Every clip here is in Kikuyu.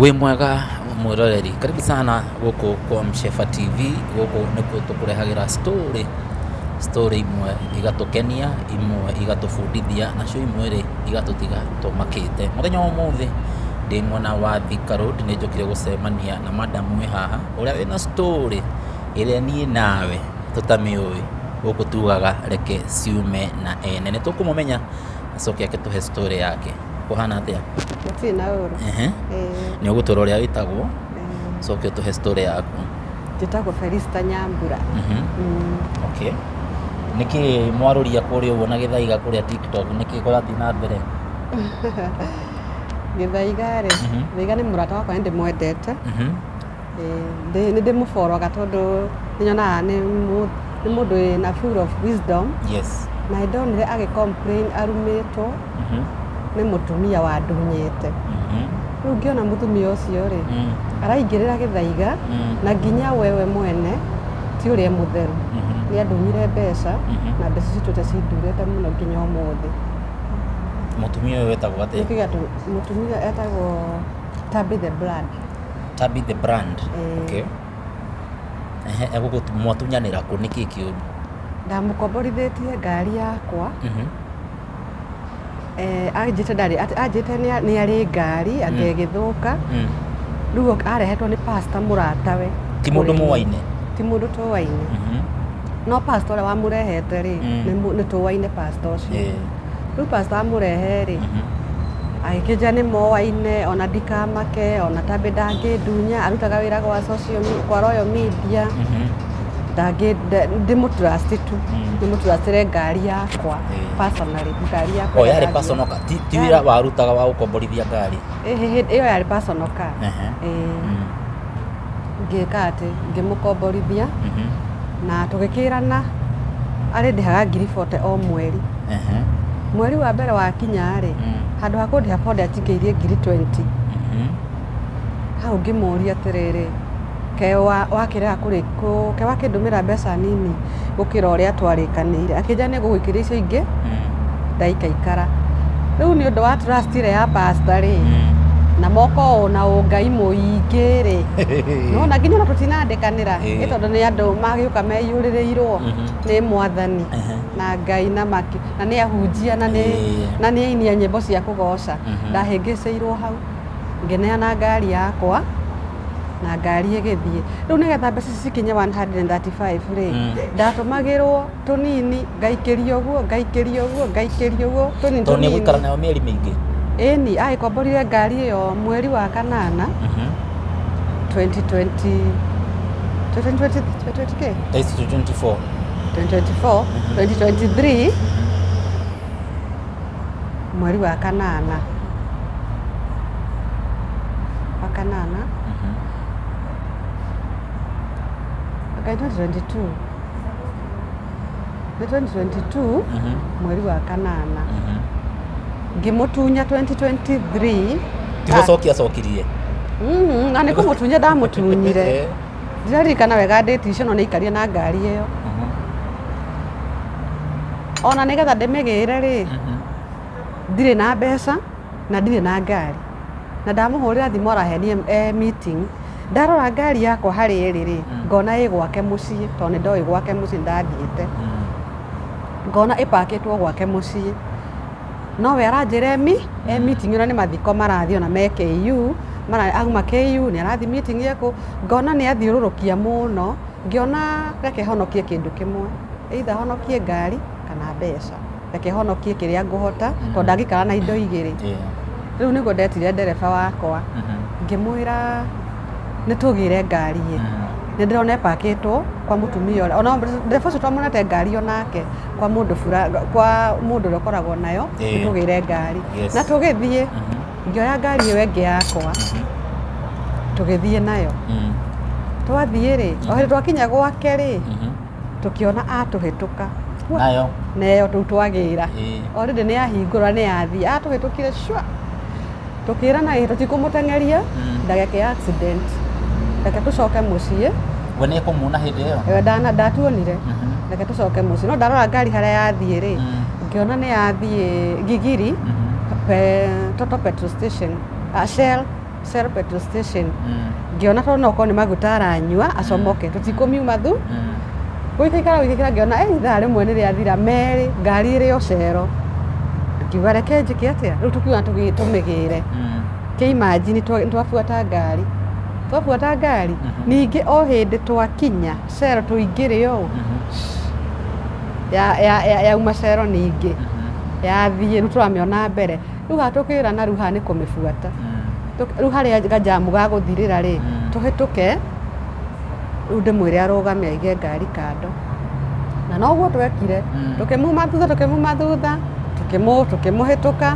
wĩ mwega mwĩroreri karibu sana gũkũ kwa mshefa tv gũkũ nĩkuo tũkũrehagĩra story story imwe igatũkenia imwe igatũbundithia nacio imwe rĩ igatũtiga tũmakĩte mũthenya wa ũmũthĩ ndĩ mwena wa Thika Road nĩ njokire gũcemania na madam wĩ haha ũrĩa wĩna story ĩrĩa niĩ nawe tũtamĩũĩ gũkũ tugaga reke ciume na ene nĩ tũkũmũmenya acoke ake tũhe story yake Ũhana atĩa? Gũtirĩ na ũru. Ehe. Ĩĩ. Nĩ ũgũtwĩra ũrĩa wĩtagwo, Ĩĩ. ũcoke ũtũhe story yaku. Njĩtagwo Felista Nyambura. Mhm. Mm. Okay. Nĩkĩ mwarũria kũrĩa ũguo na gĩthaiga kũrĩa TikTok? Nĩkĩ kũrathiĩ na mbere? Gĩthaiga rĩ, Mhm. Gĩthaiga nĩ mũrata wakwa na nĩ ndĩmwendete. Mhm. nĩ ndĩmũboroga tondũ nĩ nyonaga nĩ mũndũ wĩ na full of wisdom yes na nĩ ndonire agĩ complain arumĩtwo Mhm. nĩ mũtumia wandunyĩte Mhm. rĩu ngĩona mũtumia ũcio rĩ Mm. araingĩrĩra gĩthaiga Mm. na nginya wewe mwene ti ũrĩa mũtheru Mhm. nĩ andunyire mbeca Mhm. na mbeca citũte cindurĩte mũno nginya ũmũthĩ mũtumia ũyũ wetagwo atĩa nĩkĩga mũtumia etagwo Tabitha Brand Tabi the brand. Eh. Okay. Ehe, egũgũtu- mwatunyanĩra kũ nĩ kĩĩ kĩũru? ndamũkomborithĩtie ngari yakwa Mhm. eh, anjĩte ndarĩ at- anjĩte nĩ nĩ arĩ ngari atĩ Mm. ĩgĩthũka Mm. rĩu ok- arehetwo nĩ pasta mũratawe Ti mũndũ mũwaine. ti mũndũ tũwaine Mhm. no pasta ũrĩa wamũrehete rĩ Mm. nĩ mũ- nĩ tũwaine pasta ũcio Eh. rĩu pastor amũrehe-rĩ agĩkĩnjĩra nĩ moaine ona ndikamake ona tambe ndangĩndunya arutaga wĩra gwa social me- kwa royal media ndangĩ nda- ndĩmũtrust tu ndĩmũtrustĩre ngari yakwa Eh. personally ngari yakwa o ĩrĩa yarĩ ndangĩoya. personal car ti ti wĩra warutaga wa gũkomborithia ngari Ĩhĩ, hĩ- ĩyo yarĩ personal car Ehe. Ĩĩ. Mm. ngĩka atĩ ngĩmũkomborithia Mhm. na tũgĩkĩrana arĩ ndĩhaga ngiri bote o mweri Ehe. mweri wa mbere wakinya rĩ Mm. handũ ha kũndĩha bote anjikĩirie ngiri 20 Mhm. hau ngĩmũria atĩrĩrĩ ke wa- wakĩrega kũrĩ- kũ- ke wakĩndũmĩra mbeca nini gũkĩra ũrĩa twarĩkanĩire akĩnjĩra nĩ ngũgwĩkĩra icio ingĩ ndaikaikara rĩu nĩ ũndũ wa trust ĩrĩa ya pastor rĩ na moko ũũ na ũngai mũingĩ rĩ nona nginya ona tũtinandĩkanĩra Ĩĩ. nĩ tondũ nĩ andũ magĩũka meiyũrĩrĩirwo Mhm. nĩ mwathani Ehe. na ngai na maki na nĩ ahunjia na nĩ Ĩĩ. na nĩ ainia nyĩmbo cia kũgoca Mhm. ndahĩngĩcĩirwo hau Ngĩneana ngari yakwa na ngari ĩgĩthiĩ rĩu nĩgetha mbeca ici cikinye 135 rĩ Mm. ndatũmagĩrwo tũnini ngaikĩria ũguo ngaikĩria ũguo ngaikĩria ũguo tũnini tondũ nĩ gũikara tũnini nayo mĩeri mĩingĩ ĩni agĩkomborire ngari ĩyo mweri wa kanana Mhm. 2020 2020 2020 kĩ? Thaa ici tũ 24 2024 2023 mweri wa kanana wa kanana Mhm. okay, 2022 nĩ 2022 Mhm. mweri wa kanana Mhm. ngĩmũtunya 2023 Ti gũcokia acokirie. Mhm, na nĩ kũmũtunya ndamũtunyire Eh. Ndĩraririkana wega ndĩti icio no nĩaikarire na ngari ĩyo. Ona nĩgetha ndĩmĩgĩre rĩ, ndirĩ na mbeca na ndirĩ na ngari. Na ndamũhũrĩra thimũ arahenia e meeting. Ndarora ngari yakwa harĩa ĩrĩ rĩ, ngona ĩ gwake mũciĩ tondũ nĩndoĩ gwake mũciĩ nĩndathiĩte. Ngona ĩpakĩtwo gwake mũciĩ. nowe aranjĩra emi e meeting ona nĩ mathiko marathiĩ ona me KU mara auma KU nĩ arathiĩ meeting ekũ ngona nĩ athiũrũrũkia mũno ngĩona reke honokie kĩndũ kĩmwe either honokie ngari kana mbeca reke honokie kĩrĩa ngũhota tondũ ndangĩikara na indo igĩrĩ Yeah. rĩu nĩguo ndetire ndereba wakwa Mhm. ngĩmwĩra nĩ tũgĩre ngari ĩ Mhm. nä ndä rona epakĩtwo kwa må tumia å rä a ona ndereba å cio twamwonete ngari onake kwa mundu bura kwa mundu uria ukoragwo nayo Eh. tugire ngari Yes. na tugithie Mhm. ngioya ngari iyo ingi yakwa Mhm. tugithie nayo Mm. twathie ri o hindi twakinya gwake ri Mhm. tukiona atuhituka nayo neyo tu twagira Eh. orindi ni yahingura ni yathie atuhitukire shwa tũkĩrana ĩ tũtikũmũteng'eria ndageke ya accident reke tũcoke mũciĩ we nä kå muona hä ndä ä yo Eh, ndana ndatuonire Mhm. reke tũcoke mũciĩ no ndarora ngari harĩa yathiĩ rĩ Mm. ngĩona nĩ yathiĩ ngigiri Mhm. pe- toto petrol station ah, shell shell petrol station Mm. ngĩona tondũ no korwo nĩ maguta aranyua acomoke tũtikũmiuma thu gũikaikara gũikaikara ngĩona eh ithaa rĩmwe nĩ rĩathira merĩ ngari ĩrĩ o cero ngiuga reke njĩke atĩa rĩu tũkiuga tũgĩ- tũmĩgĩre kĩimanjini nĩ twabuata ngari twabuata ngari Mhm. ningĩ o hĩndĩ twakinya cero tũingĩre ũũ ya- ya- ya- yauma cero ningĩ yathiĩ rĩu tũramĩona mbere Rĩu gatũkĩra na rĩu haha nĩ kũmĩbuata. Tũk- Rĩu harĩa gajamu gagũthirĩra rĩ, tũhĩtũke rĩu ndĩmwĩre arũgame aige ngari kando. Na noguo twekire, tũkĩmuma thutha, tũkĩmuma thutha, tũkĩmũ- tũkĩmũhĩtũka,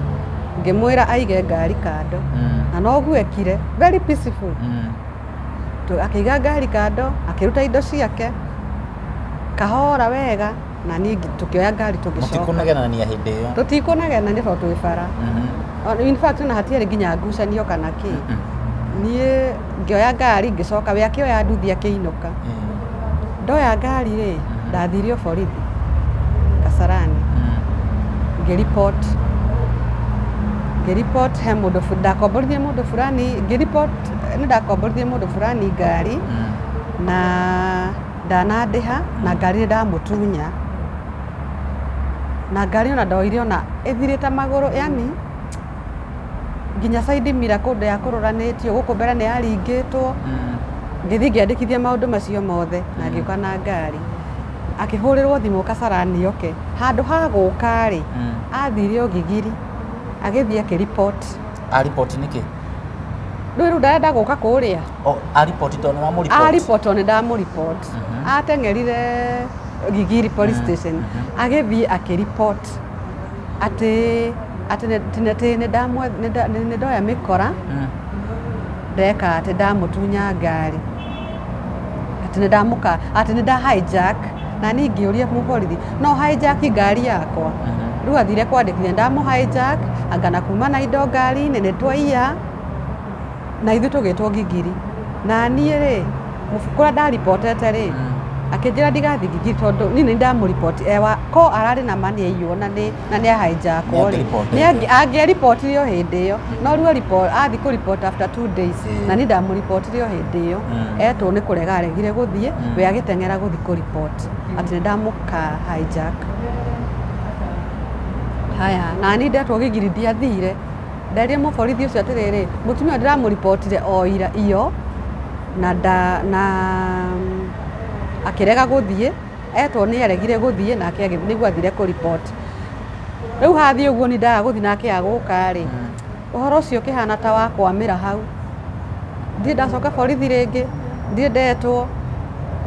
ngĩmwĩra aige ngari kando. Na noguo ekire, very peaceful. Tu- Akĩiga ngari kando, akĩruta indo ciake, kahora wega. na niĩ ngi- tũkĩoya ngari tũgĩcoka mũtikũnegenania hĩndĩ ĩyo tũtikũnegena nĩ tondũ twĩ bara Mhm. O- in fact ona hatiarĩ nginya ngucanio kana kĩ Mhm. niĩ ngĩoya ngari ngĩcoka we akĩoya nduthi akĩinũka Eh, ndoya ngari rĩ Mhm. ndathire o borithi kasarani mhm. ngĩripot ngĩripot he mũndũ fu- ndakomborithie mũndũ fulani ngĩripot nĩ ndakomborithie mũndũ fulani ngari Mhm. na Ndanandĩha na ngari nĩ ndamũtunya na ngari ona ndoire ona ĩthirĩte magũrũ yani nginya side mirror kũndũ ya kũrũranĩtio gũkũ mbere nĩ yaringĩtwo ngĩthiĩ ngĩandĩkithia maũndũ macio mothe na ngĩũka na ngari akĩhũrĩrwo thimũ kasarani oke handũ ha gũka rĩ athire ũgigiri agĩthiĩ akĩripoti Aripoti nĩkĩ? rĩu rĩu ndarenda gũka kũrĩa O- aripoti tondũ wa mũripoti aripotwo nä ndamå ateng'erire gigiri police station agĩthiĩ akĩripot atĩ atĩ nĩ- nĩ- atĩ nĩ ndamwe- nĩ nda- nĩ- nĩ ndoya mĩkora Mm. ndeka atĩ ndamũtunya ngari atĩ nĩ ndamũka atĩ nĩ nda hijack na niĩ ngĩũria mũborithi no hijack ngari yakwa Mhm. rĩu athire kwandĩkithia ndamũ hijack angana kuma na indo ngari-inĩ nĩ twaiya na ithuĩ tũgĩtwo ngigiri na niĩ rĩ mũbu- kũrĩa ndaripotete rĩ akĩnjĩra ndigathiĩ ngigiri tondũ niĩ nĩ ndamũripoti ewa ko ararĩ na ma nĩ aiywo na nĩ na nĩ ahainjakwo rĩ Nĩangĩripotete. nĩ angĩ- angĩaripotirio hĩndĩ ĩyo no rĩu aripo- athiĩ kũripota after two days Ĩĩ. na niĩ ndamũripotirio hĩndĩ ĩyo Mm. etwo nĩ kũrega aregire gũthiĩ Mm. we agĩteng'era gũthiĩ kũripoti atĩ nĩ ndamũka hijack haya na niĩ ndetwo gigiri ndiathire Nderia mũborithi ũcio atĩrĩrĩ, mũtumia ũyũ ndĩramũribotire o ira iyo na nda na akĩrega gũthiĩ, etwo nĩ aregire gũthiĩ nake agĩthiĩ nĩguo athire kũriboti. Rĩu hathiĩ ũguo niĩ ndaga gũthiĩ nake agũka rĩ, ũhoro ũcio ũkĩhana ta wakwamĩra hau. ndirĩ ndacoka borithi rĩngĩ ndirĩ ndetwo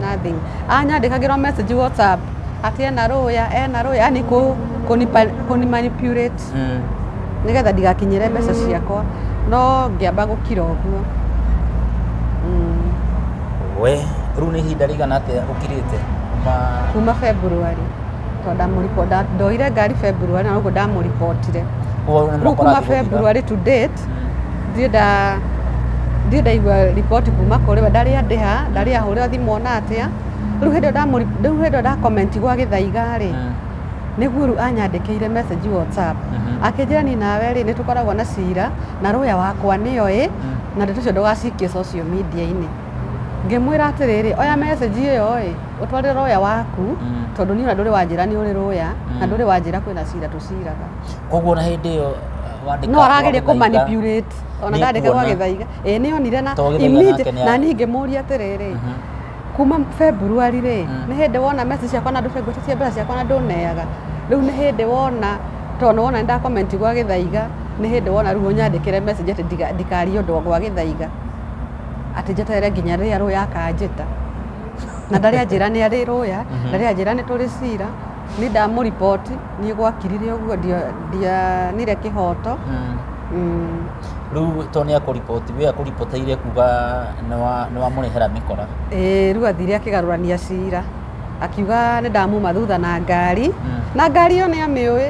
nothing anyandĩkagĩrwo message whatsapp atĩ ena rũya ena rũya yani kũ kũnipa- kũnimanipulate Mm. nĩgetha ndigakinyĩre mbeca ciakwa no ngĩamba gũkira ũguo Mm, we rĩu nĩ ihinda rĩigana atĩa ũkirĩte kuma kuma february to ndamũripo ndoire ngari february na ũguo ndamũripotire Kwa- rĩu kuma mũkora- february to date Ndirĩ ndaigua riboti kuma kũrĩ we, ndarĩ andĩha, ndarĩ ahũrĩra thimũ ona atĩa. Rĩu hĩndĩ ĩrĩa nda comment gwa Gĩthaiga rĩ, nĩ Guru anyandĩkĩire message WhatsApp akĩnjĩra niĩ nawe rĩ, nĩ tũkoragwo na cira na lawyer wakwa nĩ oĩ na ndeto icio ndũgacikie social media -inĩ. Ngĩmwĩra atĩrĩrĩ, oya message ĩyo ĩ ũtwarĩre lawyer waku tondũ niĩ ona ndũrĩ wanjĩra nĩ ũrĩ lawyer na ndũrĩ wanjĩra kwĩna cira tũciraga. koguo na hĩndĩ ĩyo wandĩka no arageria kũ wagĩthaiga, manipulate ona Nĩ ndandĩka kuona. gwagĩthaiga ĩ nĩ onire na Tondũ Gĩthaiga immediate- nake nĩ na arĩ. niĩ ngĩmũria atĩrĩrĩ Mhm. kuma february rĩ Mm. nĩ hĩndĩ wona message ciakwa na ndũbengũte cia mbeca ciakwa na ndũneaga rĩu nĩ hĩndĩ wona tondũ wona ndakomenti gwa gĩthaiga nĩ hĩndĩ wona rĩu ũnyandĩkĩre message atĩ ndiga- ndikarie ũndũ gwa gĩthaiga atĩ njeterere nginya rĩrĩa rũya akanjĩta na ndarĩ anjĩra nĩ arĩ rũya Mhm. ndarĩ anjĩra nĩ tũrĩ cira Nĩ ndamũriboti, niĩ gwakirire ũguo ndia- ndianire kĩhoto Mm. Mm, Rĩu to nĩ akũriboti, we akũripoteire kuga nĩ wa- nĩ wamũrehera mĩkora. ĩĩ, rĩu athire akĩgarũrania cira akiuga nĩ ndamuma thutha na ngari Mm. na ngari ĩyo nĩ amĩũĩ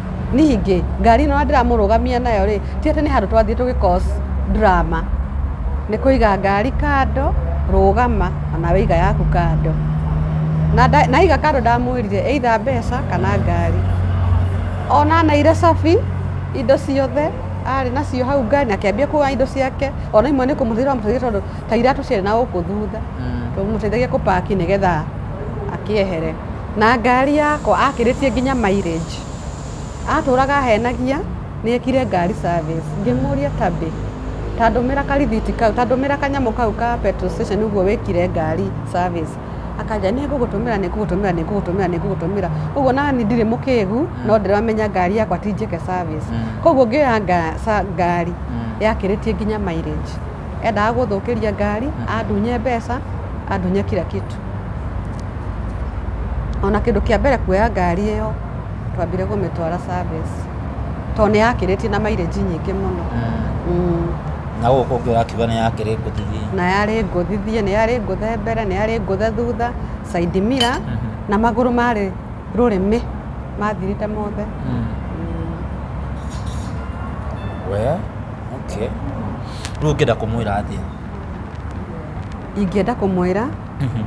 Ningĩ, ngari ĩno ndĩramũrũgamia nayo rĩ, ti atĩ nĩ handũ twathiĩ tũgĩ cause drama. Nĩ kũiga ngari kando, rũgama, o nawe iga yaku kando. Na aiga kando ndamwĩrire either mbeca kana ngari. Ona aneire cabi, indo ciothe arĩ nacio hau ngari na akĩambia kuoya indo ciake, ona imwe nĩ kũmũteithia ndamũteithagia tondũ ta iratũ ciarĩ na gũkũ thutha. Twamũteithagia kũ pack nĩgetha akĩehere. na ngari yakwa akĩrĩtie nginya mileage atũraga ahenagia nĩ ekire ngari service ngĩmũria Tabby ta ndũmĩra karĩthiti kau ta ndũmĩra kanyamũ kau ka petrol station ũguo wĩkire ngari service akanjĩra nĩ ngũgũtũmĩra nĩ ngũgũtũmĩra nĩ ngũgũtũmĩra nĩ ngũgũtũmĩra ũguo nani ndirĩ mũkĩgu no ndĩramenya ngari yakwa ti njĩke service koguo ngĩoya ngari yakĩrĩtie nginya mileage. Endaga gũthũkĩria ngari, andunye mbeca, andunye kila kitu. Ona kĩndũ kĩa mbere kuoya ngari ĩyo twambire gũmĩtwara service tondũ nĩ yakĩrĩtie na mileage nyingĩ mũno Mm. na gũkũ ũngĩ ũrakiuga nĩ yakĩrĩ ngũthithi na yarĩ ngũthithie nĩ yarĩ ngũthe mbere nĩ yarĩ ngũthe thutha side mirror na magũrũ marĩ rũrĩmĩ mathirĩte mothe we okay rĩu ũngĩenda kũmwĩra atĩa ingĩenda kũmwĩra Mhm.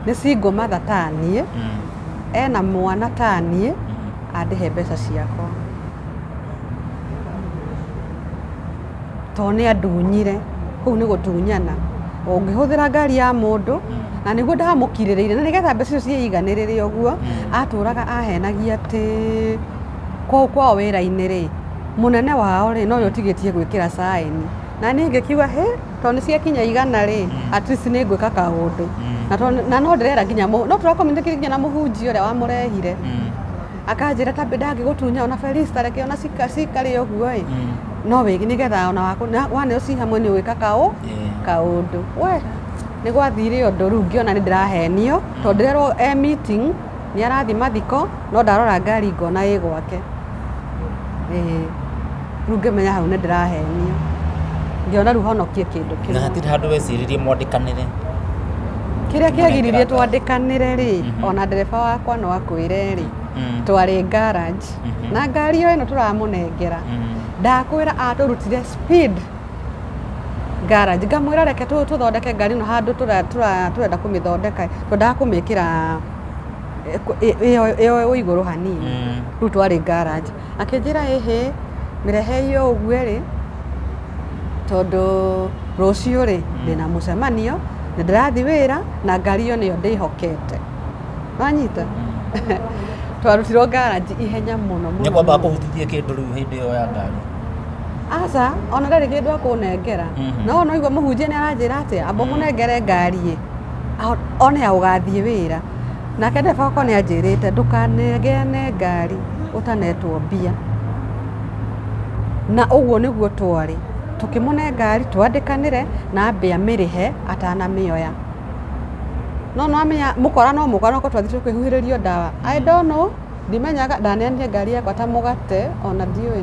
nĩ single mother ta niĩ Mm. ena mwana ta niĩ Mhm. andĩhe mbeca ciakwa to nĩ andunyire kũu nĩ gũtunyana ũngĩhũthĩra ngari ya mũndũ na nĩguo ndamũkirĩrĩire na nĩgetha mbeca icio ciĩiganĩrĩre ũguo atũraga ahenagia atĩ kũu kwao wĩra-inĩ-rĩ, mũnene wao-rĩ, na ũyũ ũtigĩtie gwĩkĩra caĩni. Na niĩ ngĩkiuga, hĩ, tondũ nĩ ciakinya igana-rĩ, at least nĩ ngwĩka kaũndũ. Na tondũ- na no ndĩrera nginya mũ- no tũra communicate nginya na mũhunjia ũrĩa wamũrehire. Akanjĩra ta mbe- ndangĩgũtunya ona Felista reke ona cika- cikarĩ ũguo-ĩ, no wĩ- nĩgetha ona waku- na- waneo ci hamwe nĩ ũgwĩka kaũ- Yeah. kaũndũ. We, nĩ gwathire ũndũ rĩu ngĩona nĩ ndĩrahenio, tondũ ndĩrerwo e meeting, Nĩ arathiĩ mathiko no ndarora ngari ngona ĩ gwake. Ĩĩ. Rĩu ngĩmenya hau nĩ ndĩrahenio. Ngĩona rĩu honokie kĩndũ kĩmwe. Na hatirĩ handũ weciririe mwandĩkanĩre. Kĩrĩa kĩagiririe twandĩkanĩre rĩ, mhm. ona ndereba wakwa no akwĩre rĩ, mm. twarĩ garage mhm. na ngari yo ĩno tũramũnengera mm. ndakwĩra atũrutire speed garage ngamwĩra reke tũthondeke ngari ĩno handũ tũrenda kũmĩthondeka twendaga kũmĩkĩra ĩyo ĩĩ igũrũ hanini mm. rĩu twarĩ garage akĩnjĩra ĩhĩ mĩrehe iyo ũguo rĩ tondũ rũciũ rĩ mm. ndĩna mũcemanio na ndĩrathi wĩra na ngari iyo nĩyo ndĩhokete wanyita mm. twarutirwo garage ihenya mũno mũno nĩ kwamba kũhutithie kĩndũ rĩu hĩndĩ ĩyo ya ngari aca ona ndarĩ kĩndũ akũnengera mm-hmm. no no igua mũhunjia nĩ aranjĩra atĩa amba mũnengere ngari ĩ one ya gũgathiĩ wĩra. Nake ndereba wakwa nĩ anjĩrĩte ndũkanegeane ngari ũtanetwo mbia. Na ũguo nĩguo twarĩ. Tũkĩmũne ngari twandĩkanĩre na ambe amĩrĩhe atanamĩoya. No nĩ wamenya mũkora no mũkora nĩ gũkorwo twathiĩte kũĩhuhĩrĩrio ndawa. I don't know, ndimenyaga, ndaneanire ngari yakwa ta mũgate, ona ndiũĩ,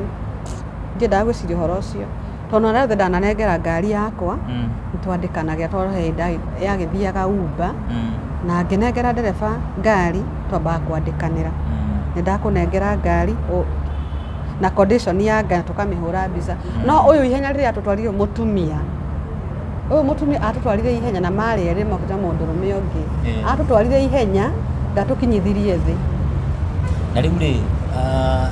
ndiendaga gwĩciria ũhoro ũcio. Tondũ ona rĩu thĩ ndananengera ngari yakwa mm. twandĩkanagia tondũ he hĩndĩ yagĩthiaga umba mm. na ngĩnengera ndereba ngari twambaga kwandĩkanĩra mm. nĩ ndakũnengera ngari na condition ya ngari tũkamĩhũra mbica mm. no ũyũ ihenya rĩrĩa atũtwarire mũtumia ũyũ mũtumia atũtwarire ihenya na marĩ erĩ makuta mũndũrũme ũngĩ mm. atũtwarire ihenya ndatũkinyithirie thĩ na rĩu rĩ uh,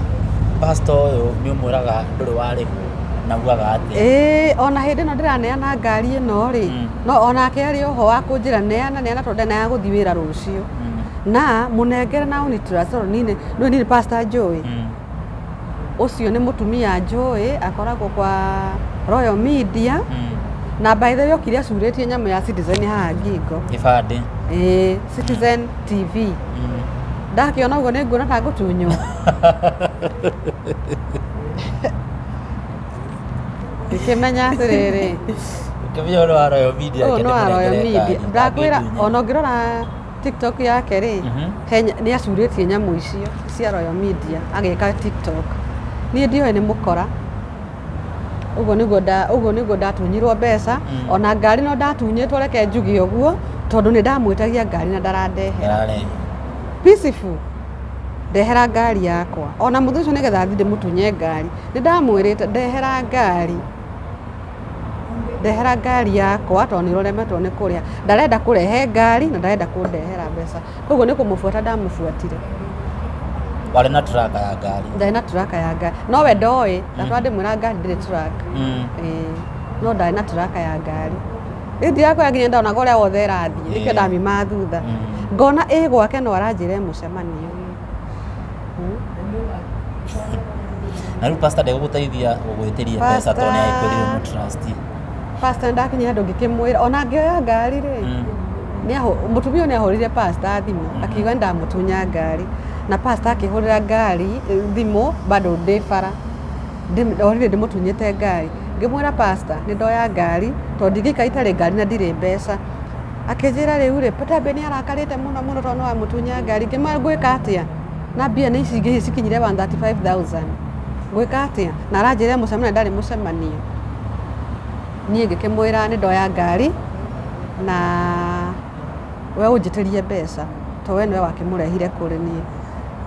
pastor ũyũ nĩ ũmwĩraga ndũrĩ warĩhwo na ugaga atĩa Ĩĩ, ona hĩndĩ ĩno ndĩraneana ngari ĩno rĩ Mm. no onake arĩ oho wa kũnjĩra neana neana tondũ ndenaga gũthiĩ wĩra rũciũ Mm, na mũnengere na ũnitiracoro nini nĩ nini pastor njũĩ mm, ũcio nĩ mũtumia njũĩ akoragwo kwa royal media mm. na by the way okire acurĩtie nyamũ ya citizen haha ngingo gĩbandĩ Ĩĩ, citizen tv Mm. ndakĩona ũguo nĩ nguona ta ngũtunywo ngĩkĩmenya atĩrĩrĩ Ũkĩmenya ũrĩa wa Royal Media ũyũ nĩ nginya wa Royal mũrengereka Media nyina ndakwĩra angĩtunya. ona ũngĩrora tiktok yake rĩ Mhm. he nya- nĩ acurĩtie nyamũ icio cia Royal Media agĩka tiktok niĩ ndiũĩ nĩ mũkora ũguo nĩguo nda- ũguo nĩguo ndatunyirwo mbeca Mm. ona ngari no ndatunyĩtwo reke njuge ũguo tondũ nĩ ndamwĩtagia ngari na ndarandehe Ndararehe. peaceful ndehera ngari yakwa ona mũthĩ ũcio nĩgetha thiĩ ndĩmũtunye ngari nĩ ndamwĩrĩte ndehera ngari ndehera ngari yakwa tondũ nĩ ũremetwo nĩ kũrĩa ndarenda kũrehe ngari na ndarenda kũndehera mbeca koguo nĩ kũmũbuata ndamũbuatire warĩ na turaka ya ngari ndarĩ na turaka ya ngari no we ndoĩ ndatwa ndĩmwĩra ngari ndĩrĩ turaka Mm. Ĩĩ, no ndarĩ na turaka ya ngari Rĩu ndirakwĩra nginya ndonaga ũrĩa wothe ĩrathiĩ nĩkĩo ndamimaga thutha ngona ĩ gwake no aranjĩra mũcemanio na rĩu pastor ndegũgũteithia gũgwĩtĩria mbeca tondũ nĩ akwĩrire mũ trust pastor ndakinya handũ ngĩkĩmwĩra ona ngĩoya ngari rĩ mũtumia ũyũ nĩ ahũrire pastor thimũ akiuga nĩ ndamũtunya ngari na pastor akĩhũrĩra ngari thimũ bado ndĩ bara Ndorire ndĩmũtunyĩte ngari. Ngĩmwĩra pastor nĩ ndoya ngari tondũ ndingĩikara itarĩ ngari na ndirĩ mbeca. Akĩnjĩra rĩu rĩ, Peter nĩ arakarĩte mũno mũno tondũ nĩ wamũtunya ngari. Ngĩmwĩra ngwĩka atĩa na mbia nĩ ici ingĩ cikinyire 135,000 ngwĩka atĩa? Na aranjĩra e mũcemanio ndarĩ mũcemanio. Niĩ ngĩkĩmwĩra nĩ ndoya ngari na we ũnjĩtĩrie mbeca to we nĩwe wakĩmũrehire kũrĩ niĩ.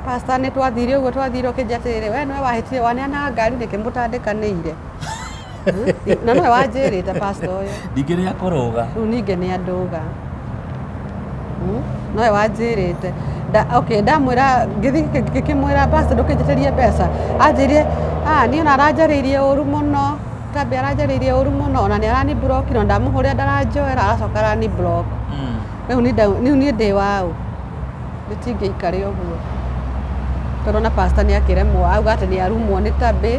Pastor nĩ twathire ũguo twathire ũkĩnjia atĩrĩrĩ we nĩwe wahĩtire waneana ngari nĩkĩ mũtandĩkanĩire Hmm? na nĩwe wanjĩrĩte pastor ũyũ ndingĩrĩ akũrũga rĩu ningĩ nĩ andũga Hmm? nowe wanjĩrĩte Da- okay, ndamwĩra ngĩthiĩ ngĩ- ngĩkĩmwĩra pastor ndũkĩnjĩtĩrie mbeca anjĩrie "Ah, niĩ ona aranjarĩirie ũru mũno tambi aranjarĩirie ũru mũno ona nĩ arani block na ndamũhũrĩra ndaranjoera aracoka arani block Mm. rĩu nĩ nda- rĩu niĩ ndĩ waũ Gũtingĩikare ũguo. Tondũ ona pastor nĩ akĩremwo. Auga atĩ nĩ arumwo nĩ tabĩ,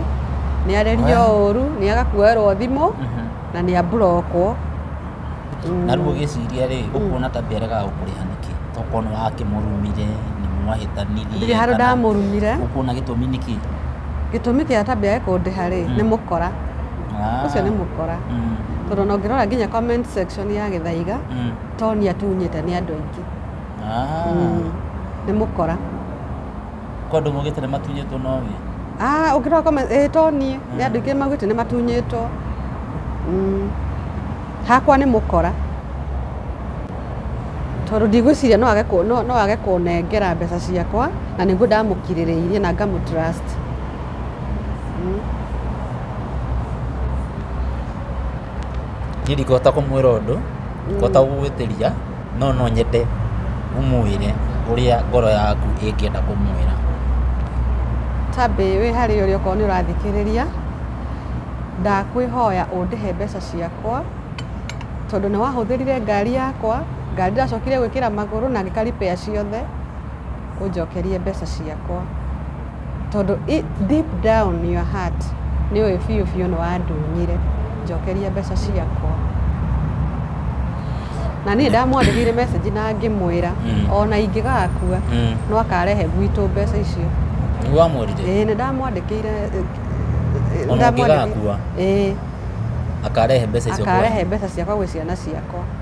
nĩ arerio ũru, nĩ aga kuoerwo thimũ, na nĩ amburokwo. Na rĩu ũgĩciria rĩ, ũkuona tabĩ aregaga gũkũrĩha nĩkĩ? Tokorwo nĩ wakĩmũrumire, nĩ mwahĩtanirie. Ndirĩ handũ kana- ndamũrumire. Ũkuona gĩtũmi nĩkĩ? Gĩtũmi kĩa tabĩ age kũndĩha rĩ, nĩ mũkora. Ah. Ũcio nĩ mũkora. Mm. Tondũ ona ũngĩrora nginya comment section ya Gĩthaiga, Mm. Tony atunyĩte nĩ andũ aingĩ. Ah, Mm, nĩ mũkora kwa andå maugä te nä matunyä two noge Ah, ũngĩroka ĩ to niĩ nĩ andũ aingĩ maugĩte nĩ matunyĩtwo Mm, hakwa nĩ mũkora tondũ ndigwĩciria no age kũ- no- no age kũnengera mbeca ciakwa na nĩguo ndamũkirĩrĩirie na ngamũtrust Mm. niä ndikåhota kå mwä ra å ndå kåhota gå gwä tä ria no no nyende ũmwĩre ũrĩa ngoro yaku ĩngĩenda kũmwĩra. Tabby wĩ harĩa ũrĩ okorwo nĩ ũrathikĩrĩria, ndakwĩhoya ũndĩhe mbeca ciakwa, tondũ nĩ wahũthĩrire ngari yakwa, ngari ndĩracokire gwĩkĩra magũrũ na ngĩka repair ciothe, ũnjokerie mbeca ciakwa. Tondũ deep down your heart nĩ ũĩ biũ biũ nĩ wandunyire, njokeria mbeca ciakwa. Na niĩ ndamwandĩkĩire message na ngĩmwĩra mm. ona ingĩgakua mm. no akarehe gwitũ mbeca icio. Nĩ wamwĩrire? Ĩĩ nĩ ndamwandĩkĩire ona ũngĩgakua akarehe mbeca icio akarehe mbeca ciakwa gwĩ ciana ciakwa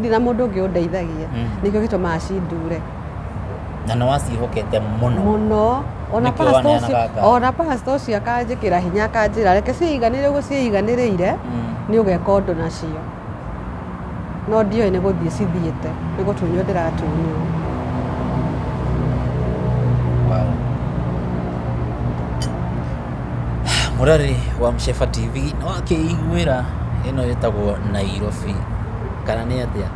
ndirĩ na mũndũ ũngĩ ũndeithagia Mhm. nĩkĩo gĩtũmaga cindure na nĩ waciĩhokete mũno mũno ona Nĩkĩo pastor waneanaga ũcio- ngari. ona pastor ũcio akanjĩkĩra hinya akanjĩra reke ciiganĩre ũguo ciiganĩrĩire Mm. nĩ ũgeka ũndũ nacio no ndioĩ nĩ gũthiĩ cithiĩte nĩ gũtunywo ndĩratunywo Wow. Murari wa Mshefa TV nĩ wakĩiguĩra ĩno ĩtagwo Nairobi kana nĩ atĩa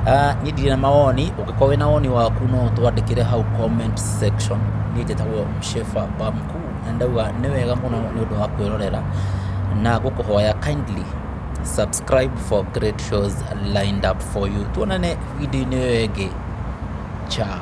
Ah, niĩ ndirĩ na mawoni ũngĩkorwo wĩna woni waku no ũtwandĩkĩre hau comment section niĩ njĩtagwo mshefa bamku na ndauga nĩ wega mũno nĩ ũndũ wa kwĩrorera na gũkũhoya kindly subscribe for great shows lined up for you tuonane video-inĩ ĩyo ĩngĩ chao